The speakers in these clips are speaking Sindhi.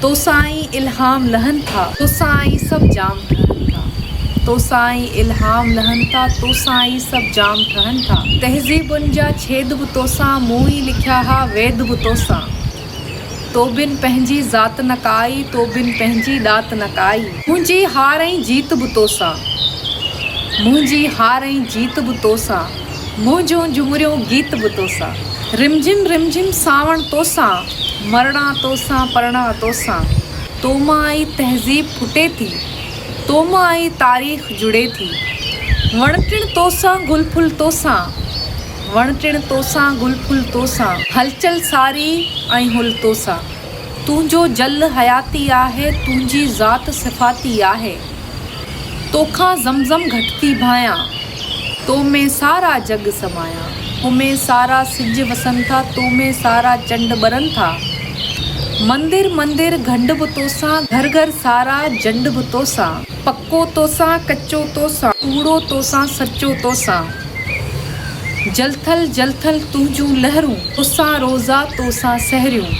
توسان ئي الهام لهن ٿا. توسان ئي سڀ جام ٺهن ٿا. توسان ئي الهام لهن ٿا. توسان ئي سڀ جام ٺهن ٿا. تهذيبن جا ڇيد به توسان. مون ئي لکيا ها ويد به توسان. تو بن پنهنجي ذات نه ڪائي. تو بن پنهنجي ڏات نه ڪائي. منهنجي هار ۽ جيت به توسان. منهنجي هار ۽ جيت به توسان. منهن جون جهمريون گيت به توسان. رم جھم رم جھم سانوڻ توسان. مرڻا توسان پرڻا توسان. تو مان ئي تهذيب ڦٽي ٿي. تو مان ئي تاريخ جڙي ٿي. وڻ ٽڻ توسان گل ڦل توسان. وڻ ٽڻ توسان گل ڦل توسان. هلچل ساري ۽ هل توسان. تنهنجو جل حياتي آهي، تنهنجي ذات صفاتي آهي. توکان زم زم گهٽ ٿي ڀانئيان، تو ۾ سارا جڳ سمايان. تو ۾ سارا سج وسن ٿا، تو ۾ سارا چنڊ ٻرن ٿا. مندر مندر گهنڊ به توسان، گهر گهر سارا جنڊ به توسان. پڪو توسان ڪچو توسان. ڪوڙو توسان سچو توسان. جلٿل جلٿل تنهنجون لهرون. توسان روزا توسان سحريون.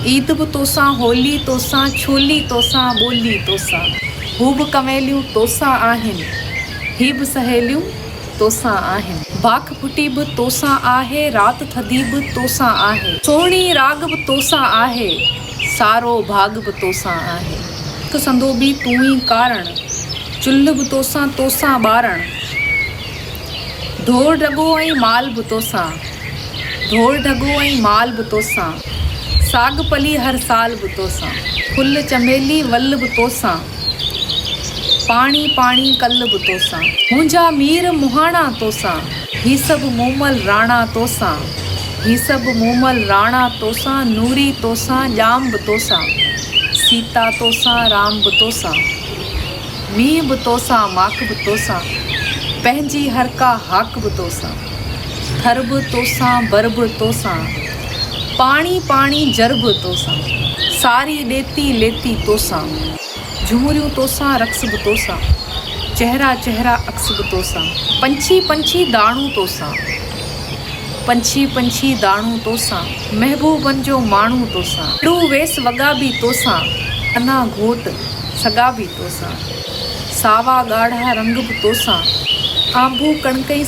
عيد به توسان هولي توسان. ڇولي توسان ٻولي توسان. هو به ڪنويليون توسان آهن. هي به سهيليون توسان آهن. باک ڦٽي به توسان آهي. رات ٿڌي به توسان آهي. سهڻي راڳ به توسان آهي. سارو ڀاڳ به توسان آهي. هڪ سندوبي تون ئي ڪارڻ. چلهه به توسان، توسان ٻارڻ. ڍور ڍڳو ۽ مال به توسان. ڍور ڍڳو ۽ مال به توسان. ساڳ پلي هر سال به توسان. ڦل چنبيلي ول به توسان. پاڻي پاڻي ڪل به توسان. منهنجا مير مهاڻا توسان. هي سڀ مومل راڻا توسان. هي سڀ مومل راڻا توسان نوري توسان ڄام به توسان سيتا توسان رام به توسان مينهن به توسان ماڪ به توسان پنهنجي هر ڪا هاڪ به توسان ٿر به توسان بر به توسان پاڻي پاڻي جر به توسان ساري ڏيتي ليتي توسان. جهمريون توسان رقص به توسان، چهرا چهرا عڪس به توسان، پنڇي پنڇي داڻون توسان، پنڇي پنڇي داڻون توسان، محبوبن جو ماڻهون توسان، اڙو ويس وڳا به توسان، انا گهوٽ سڳا به توسان، ساوا ڳاڙها رنگ به توسان، آنبو ڪڻڪئي.